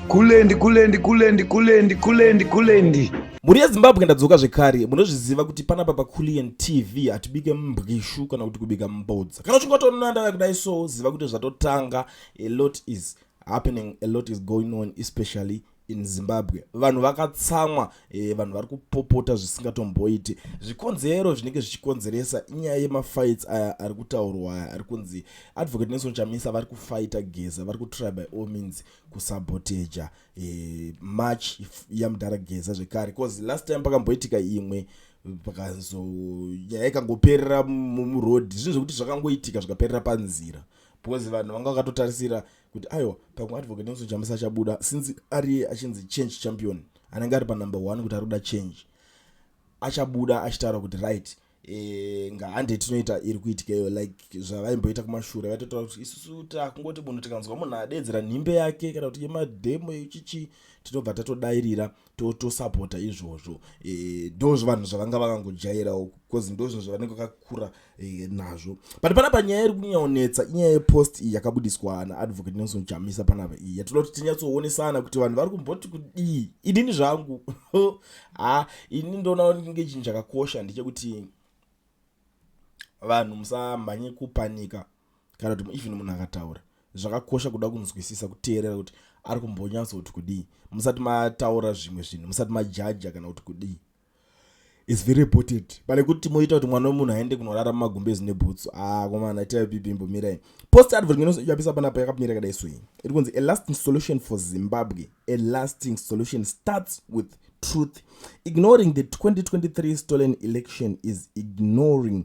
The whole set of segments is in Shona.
kulendi kulendi kulendi kulendi kulendi kulendi mhuri yezimbabwe ndadzoka zvekare munozviziva kuti panapa paculian tv hatibike mbwishu kana kuti kubika mbodza kana uchinge watoona ndava kudai so ziva kuti zvatotanga a lot is happening a lot is going on especially in zimbabwe vanhu vakatsamwa e, vanhu vari kupopota zvisingatomboiti zvikonzero zvinenge zvichikonzeresa inyaya yemafights aya ari kutaurwa aya ari kunzi advocate nelson chamisa vari kufaita geza vari kutry by all means kusaboteja e, eh, march yamudhara geza zvekare bcause last time pakamboitika imwe pakazo nyaya ikangoperera muroad zvinhu zvekuti zvakangoitika zvikaperera panzira because vanhu vanga vakatotarisira kuti aiwa pamwe advocate nelson chamisa achabuda since ariye achinzi change champion anenge ari panumber one kuti ari kuda change achabuda achitaura kuti right e, ngahande tinoita iri kuitikeyo like zvavaimboita kumashure vaitotaura kuti isusu takungoti munhu tikanzwa munhu adedzera nhimbe yake kana kuti yemademo yechichi tinobva tatodairira tosapota to izvozvo e, ndo zvivanhu zvavanga vakangojairawo bcause ndo zvinhu zvavanenge vakakura e, nazvo but pana panyaya iri kunyaonetsa inyaya yepost iyi yakabudiswa naadvocate nelson chamisa panapa iyi yatinoda kuti tinyatsoonesana kuti vanhu vari kumboti kudii inini zvangu ha ini ndoona kunge chinhu chakakosha ndechekuti vanhu musamhanye kupanika kana kuti even munhu akataura zvakakosha kuda kunzwisisa kuteerera kuti ari kumbonyatso kuti kudii musati mataura zvimwe zvinhu musati majaja kana kuti kudii is very important pane kuti moita kuti mwana wemunhu aende kunorara mumagumbezi nebhutsu akomana ah, itai pipimbo mirai post advert inoyapisa panapa yakamira kadai soyi iri kunzi a lasting solution for zimbabwe a lasting solution starts with truth ignoring the 2023 stolen election is ignoring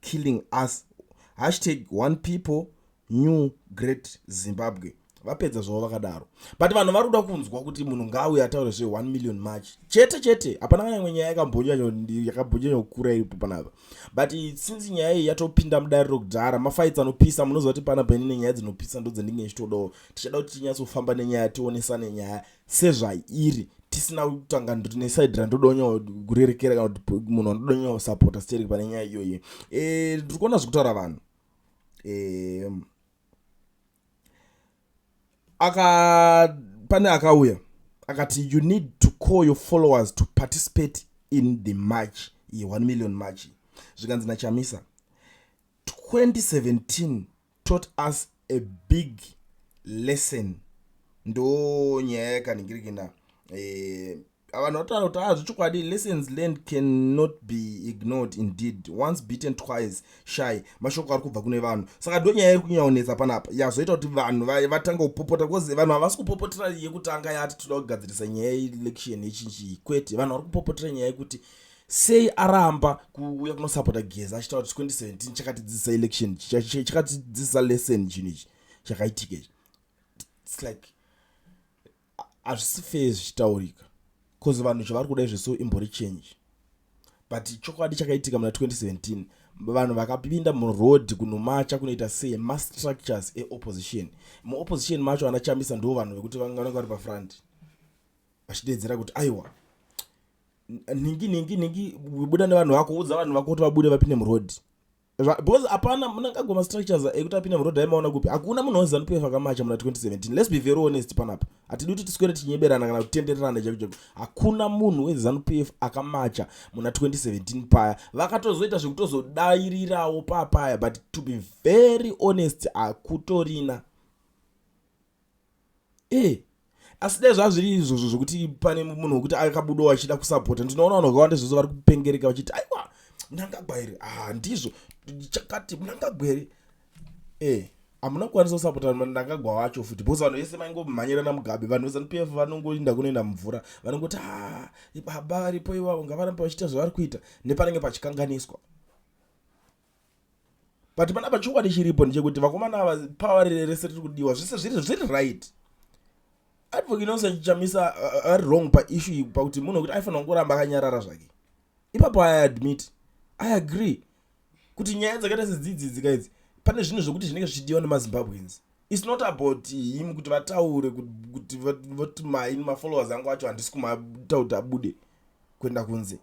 killing us hashtag one people new great zimbabwe vapedza zvavo vakadaro but vanhu vari kuda kunzwa kuti munhu ngaawe ataure zve 1 million march chete chete hapana kana imwe nyaya yakambonyanyakambonyanya kukura iripo panapa but since nyaya iyi yatopinda mudare rokudhara mafaitsi anopisa munoziva kuti pana paine nenyaya dzinopisa ndo dzendinge ndichitodawo tichada kuti tinyatsofamba nenyaya tionesane nyaya sezvairi tisina kutanga ndoti nesaidi randoda kunyawo kurerekera kana kuti munhu andoda kunyawo kusapota sterek pane nyaya iyoyo e, eh, tiri kuona zvekutaura vanhu e, aka pane akauya akati you need to call your followers to participate in the march ye 1 million march zvikanzi nachamisa 2017 taught us a big lesson ndo nyaya yakaningirikina eh, vanhu vataura kuti aa ah, zvechokwadi lessons learned cannot be ignored indeed once beaten twice shy mashoko ari kubva kune vanhu saka ndo nyaya iri kunyanya kunetsa panapa yazoita kuti vanhu vatanga kupopota bcause vanhu havasi kupopotera yekutanga yati toda kugadzirisa nyaya yeelection yechinjii kwete vanhu vari kupopotera nyaya yekuti sei aramba kuuya kunosapota geza achitaura kuti 2017 chakatidzidzisa election chakatidzidzisa lesson chinhu ichi chakaitika ichi its like hazvisi fair zvichitaurika bcause vanhu zvavari kuda izvo so imbori change but chokwadi chakaitika muna 2017 vanhu vakapinda muroad kunomacha kunoita sei mastructures eopposition muopposition macho anachambisa ndo vanhu vekuti vange vanenge vari pafront vachideedzera kuti aiwa nhingi nhingi nhingi buda nevanhu vako udza vanhu vako kuti vabude vapinde muroad because hapana munangagwa mastructures ekuti apinde muroad aimaona kupi hakuna munhu wezanu pf akamacha muna 2017 let's be very honest panapa hatidi kuti tiswere tichinyeberana kana kutendererana chaiko chaiko hakuna munhu wezanu pf akamacha muna 2017 paya vakatozoita zvekutozodairirawo papaya but to be very honest hakutorina e asi dai zvazviri izvozvo zvokuti pane munhu wekuti akabudawo achida kusapota ndinoona vanhu vakawanda zvose vari kupengereka vachiti aiwa mnangagwa here ha ah, ndizvo chakati mnangagwa here e hamuna kukwanisa kusapota mnangagwa wacho futi bcause vanhu vese vaingomhanyirana mugabe vanhu vezanup f vanongoinda kunoenda mumvura vanongoti ha ah, ibaba varipo ivavo ngavarambe vachiita zvavari kuita nepanenge pachikanganiswa but panapa chokwadi chiripo ndechekuti vakomana ava power rese riri kudiwa zvese zviri zviri right advocate nelson chichamisa ari uh, wrong paissue iyi pakuti munhu wekuti aifanira kungoramba akanyarara zvake ipapo i admit i agree kuti nyaya dzakaita sedzidzi dzika idzi pane zvinhu zvekuti zvinenge zvichidiwa nemazimbabweans its not about him kuti vataure kuti voti maini mafollowers angu acho handisi kumatakuti abude kuenda kunze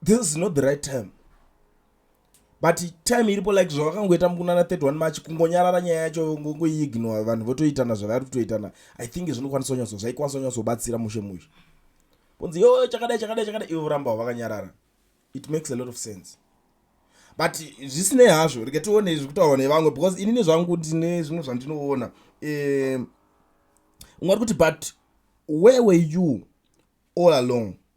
this is not the right time but time iripo like zvavakangoita mukunana 31 march kungonyarara nyaya yacho ngongoiignore vanhu votoitana zvavari kutoitana i think zvinokwanisa nyatso zvaikwanisa nyatsobatsira mushe mushe kunzi yo chakadai chakadai chakadai ivo voramba wavakanyarara it makes a lot of sense but zvisinei hazvo rega tione zviri kutaurwa nevamwe because inini zvangu ndine zvimwe zvandinoona um ungati kuti but where were you all along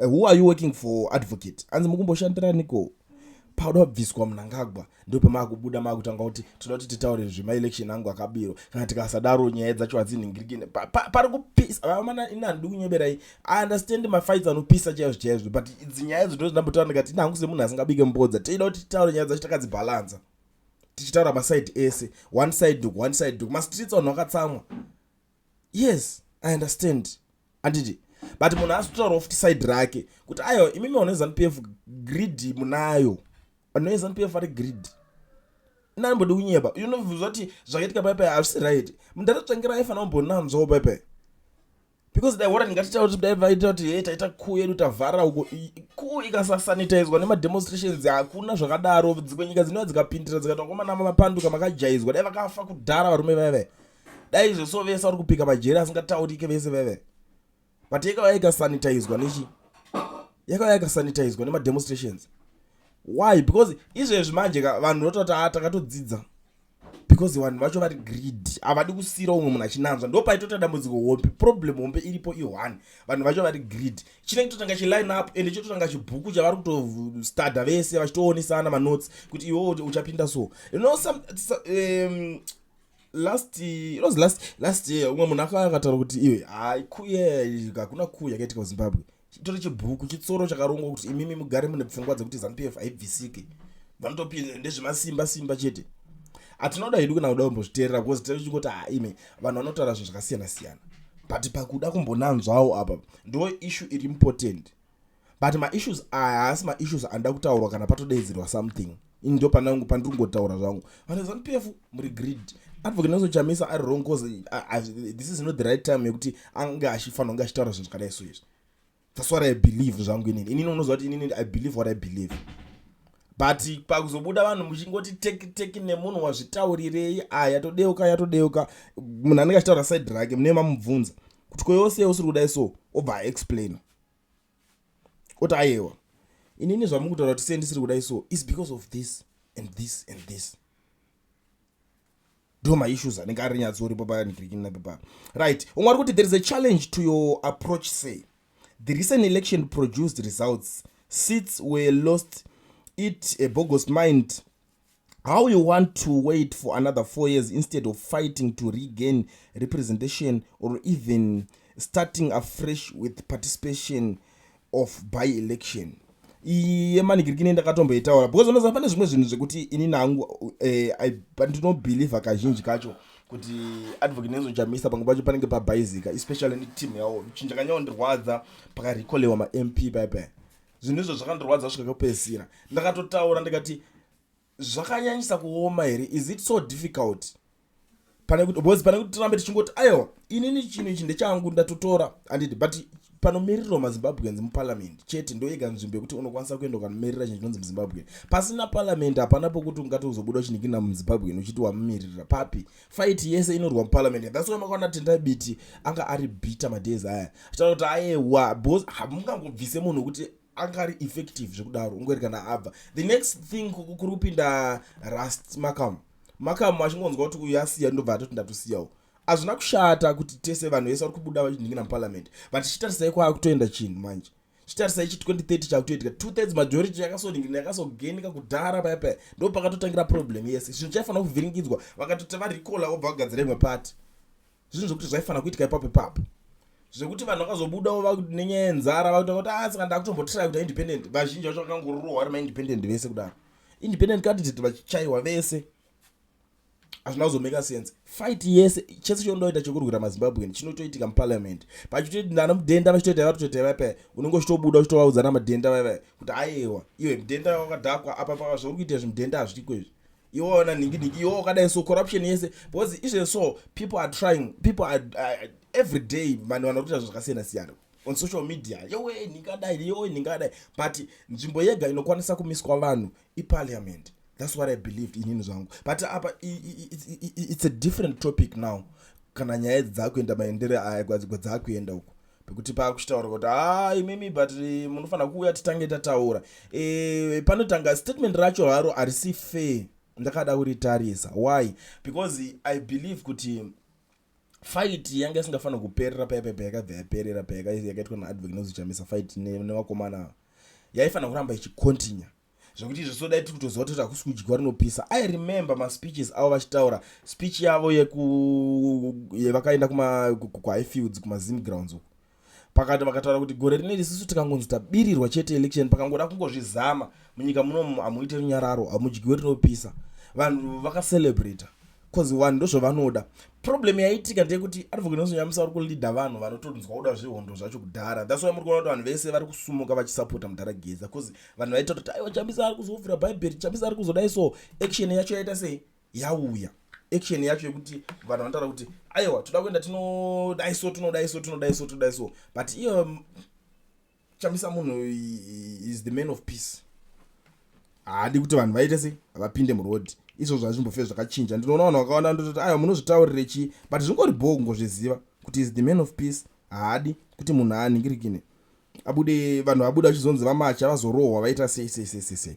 Eh, who are you working for advocate hanzi mukumboshandiraniko pauda kubviswa munangagwa ndo pamaakubuda maakutanga kuti tinoda kuti titaure zvemaelection angu akabiro kana tikasadaro nyaya dzacho hadzinhingirikine pari kupisa vamana ini handidi kunyeberai i understand mafights anopisa chaizvo chaizvo but idzi nyaya idzo ndozvindambotaura ndikati ini hangu semunhu asingabike mbodza toida kuti titaure nyaya dzacho takadzibhalanza tichitaura maside ese one side duk one side duk mastreets vanhu vakatsamwa yes i understand anditi but munhu asi kutaurawo futi side rake kuti aiwa imimi vano yezanup f greed munayo vanhu vezanup f vari greed inanimbodi kunyeba unobvunzwa kuti zvakaitika paipai hazvisi right mundatotsvangira aifanira kumbonanzwawo paipai because dai wora ndingatitaura kuti dai vaita kuti he taita kuu yedu tavhara uko kuu ikasasanitizwa nemademonstrations hakuna zvakadaro dzimwe nyika dzinova dzikapindira dzikati vakomana mamapanduka makajaizwa dai vakafa kudhara varume vaive dai izvo so vese vari kupika majeri asingataurike vese veve but yakava yakasanitizwa nechi yakava yakasanitizwa nemademonstrations why because izvezvi manje ka vanhu vototi a ah, takatodzidza because vanhu vacho vari greed havadi kusiyira umwe munhu achinanzva ndo paitoita dambudziko hombe problem hombe iripo i1 vanhu vacho vari greed chinenge totanga chiline up ende chototanga chibhuku chavari kutostadha vese vachitoonesana manotes kuti iwo uchapinda so you know some, some um, last it was last last year umwe munhu akataura kuti iwe hai kuya hakuna kuya kaitika kuzimbabwe chitori chibhuku chitsoro chakarongwa kuti imimi mugare mune pfungwa dzekuti zanupf haibvisike vanotopinda ndezvemasimba simba chete atinoda hedu kana kuda kumbozviteerera because tiri chingoti haime vanhu vanotaura zvinhu zvakasiyana siyana but pakuda kumbonanzwawo apa ndo issue iri important but maissues aya haasi maissues anoda kutaurwa kana patodeedzerwa something ini ndo panangu pandiri kungotaura zvangu vanhu zanu pf muri greed advocate nelson chamisa ari wrong cause this is not the right time yekuti ange achifanira kunge achitaura zvinhu zvakadai so izvi that's what i believe zvangu inini inini unoziva kuti inini i believe what i believe but pakuzobuda vanhu muchingoti teki teki nemunhu wazvitaurirei aya todeuka yatodeuka munhu anenge achitaura side rake mune mamubvunza kuti koyose usiri kudai so obva aexplaina oti ayewa inini zvamukutaura kuti sei ndisiri kudai so is because of this and this and this ndo maissues anenge ari nyatso uripo panikirikinapepaa right umwe ari kuti there is a challenge to your approach say the recent election produced results seats were lost it a bogus mind how you want to wait for another four years instead of fighting to regain representation or even starting afresh with participation of by election iyi yemanikiriki nei ndakatomboitaura because unoziva pane zvimwe zvinhu zvekuti ini nangu eh, ndinobhilivha kazhinji kacho kuti advocate nezojamisa pamwe pacho panenge pabhaizika especially neteam yawo chinhu chakanyaondirwadza pakarekolewa mamp paipai zvinhu izvo zvakandirwadza svika kupedzisira ndakatotaura ndikati zvakanyanyisa kuoma here is it so difficult pane kuti bcause pane kuti tirambe tichingoti aiwa inini chinhu ichi ndechangu ndatotora andidi but panomirirwa mazimbabweans muparliament chete ndoyega nzvimbo yekuti unokwanisa kuenda ukanomirira chinhu chinonzi muzimbabwean pasina parliament hapana pokuti ungati uzobuda uchinikina muzimbabwean uchiti wamumiririra papi fight yese inorwa muparliament that's why makaona tendai biti anga ari bitter madays aya achitaura kuti ayewa bcause hamungangobvise munhu wekuti anga ari effective zvekudaro ungweri kana abva the next thing kuri kupinda rust makamu makamu achingonzwa kuti uyu asiya ndobva atoti ndatosiyawo hazvina kushata kuti tese vanhu vese vari kubuda vachinhingira muparliament but chitarisai kwaakutoenda chinhu manje chitarisa ichi 2030 chakutoitika two thirds majority yakasoningirina yakasogenika kudhara paya paya ndo pakatotangira problem yese zvinhu chaifanira kuvhiringidzwa vakatoti varikola vobva vagadzira imwe pati zvinhu zvekuti zvaifanira kuitika ipapo ipapo zvekuti vanhu vakazobudawo nenyaya yenzara vakuta kuti asi ah, kana ndakutombotirai kuita independent vazhinji vacho vakangorohwa vari maindependent vese kudaro independent candidate vachichaiwa vese hazvina kuzomeka sense fight yese chese chondoita chekurwira mazimbabwean chinotoitika muparliament pachitoti nana mudhenda vachitoita vatotoita vaipa unenge uchitobuda uchitovaudza na madhenda vaiva kuti ayewa iwe mudhenda wakadhakwa apa pava zvauri kuita zvimudhenda hazviriko izvi iwe waona nhinginhingi iwe wakadai so corruption yese because izve so people are trying people are, uh, every day vanhu vanotoita zvakasiyana siyana on social media yowe nhingadai yowe nhingadai but nzvimbo yega inokwanisa kumiswa vanhu iparliament thats what i believed inini zvangu but apa it's a different topic now kana nyaya idzi dzakuenda maendere aya gwadzigwa dzakuenda uko pekuti paakuchitaura kuti haa ah, imimi but eh, munofanira kuuya titange tataura e, panotanga statement racho haro harisi fair ndakada kuritarisa why because i believe kuti fight yanga isingafanira kuperera paya paya payakabva yaperera payaka yakaitwa naadvek nozichamisa fight nevakomana ava yaifanira kuramba ichicontinue zvekuti izvo sodai tiri kutoziva toti hakusi kudyiwa rinopisa i remember maspeeches avo vachitaura speech yavo yevakaenda kuhighfields kumazim grounds uku pakati vakataura kuti gore rine risisu tikangonzi tabirirwa chete election pakangoda kungozvizama munyika munomu hamuite runyararo hamudyiwe rinopisa vanhu vakacelebrata bcause vanhu ndozvavanoda problem yaitika ndeyekuti advocate nelson nyamisa vari kuleader vanhu vanotonzwa kuda zvehondo zvacho kudhara thats why muri kuona kuti vanhu vese vari kusumuka vachisapota mudhara geza bcause vanhu vaita kuti aiwa chamisa ari kuzovhura bhaibheri chamisa ari kuzodai so action yacho yaita sei yauya action yacho yekuti vanhu vanotaura kuti aiwa toda kuenda tinodai so tinodai so tinodai so tinodai so but iye um, chamisa munhu is the man of peace haadi kuti vanhu vaite sei vapinde muroad izvo zvazvimbofe zvakachinja ndinoona vanhu vakawanda ndototi aiwa munozvitaurire chii but zvingori bhoo kungozviziva kuti is the man of peace haadi kuti munhu aanhingirikine abude vanhu vabuda vachizonzi vamacha vazorohwa vaita sei sei sei sei sei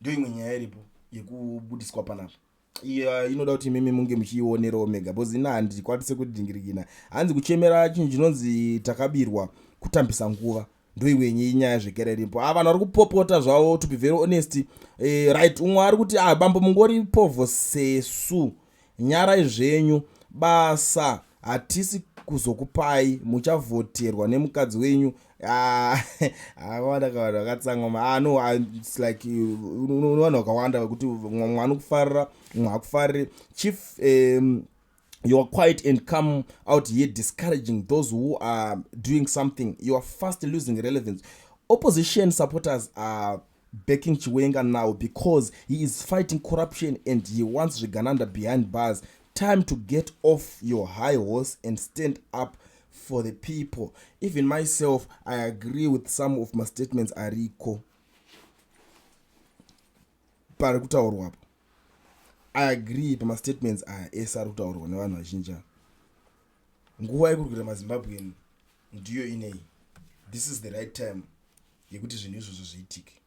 ndiyo imwe nyaya iripo yekubudiswa panapa iya inoda kuti imimi munge muchiionerawo mega bcause ina handikwanise kudingirigina hanzi kuchemera chinhu chinonzi takabirwa kutambisa nguva ndoiwenyi inyaya zvekere iripo a ah, vanhu vari kupopota zvavo to be very honest e, right umwe ari kuti a ah, bambo mungori povho sesu nyarai zvenyu basa hatisi kuzokupai muchavhoterwa nemukadzi wenyu ah, akawanda kavanhu vakatsangoma ah, no ah, its like unowanhu wakawanda vekuti mwana ukufarira mwa hakufariri chief um, you are quiet and come out here discouraging those who are doing something you are fast losing relevance opposition supporters are backing chiwenga now because he is fighting corruption and he wants zvigananda behind bars time to get off your high horse and stand up for the people even myself i agree with some of mastatements ariko pari kutaurwa apo i agree pamastatements aya ese ari kutaurwa nevanhu vazhinji ava nguva yekuri kuita mazimbabwen ndiyo inei this is the right time yekuti zvinhu izvozvo zviitike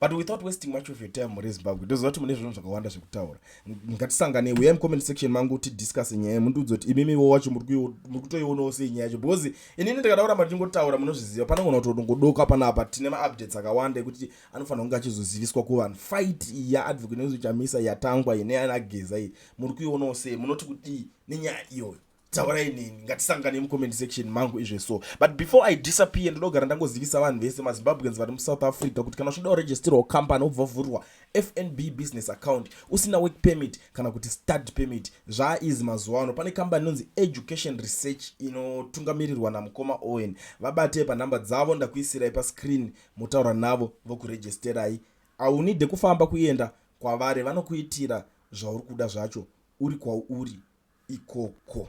but without wasting much of your time muri zimbabwe ndoziva kuti mune zvinhu zvakawanda zvekutaura ngatisangane uya mucomment section mangu tidiscuse nyaya iyi mundiudza kuti imimiwo wacho muri kutoionawo sei nyaya yacho because inini ndikada kuramba ndichingotaura munozviziva panogona kuti ndongodoka panapa tine maupdates akawanda ekuti anofanira kunge achizoziviswa kuvanhu fight yaadvocate nezvichamisa yatangwa ine anageza iyi muri kuionawo sei munoti kudii nenyaya iyoyo taurai neni ngatisangane mucomment section mangu izve so but before i disappear ndinogara ndangozivisa vanhu vese mazimbabweans vari musouth africa kuti kana uchida kuregisterwa company obva vhurwa fnb business account usina work permit kana kuti stud permit zvaaizi mazuva ano pane kambani inonzi education research inotungamirirwa namukoma owen vabatei panhamba dzavo ndakuisirai pascreen motaura navo vokuregisterai aunide kufamba kuenda kwavari vanokuitira zvauri kuda zvacho uri kwauri ikoko.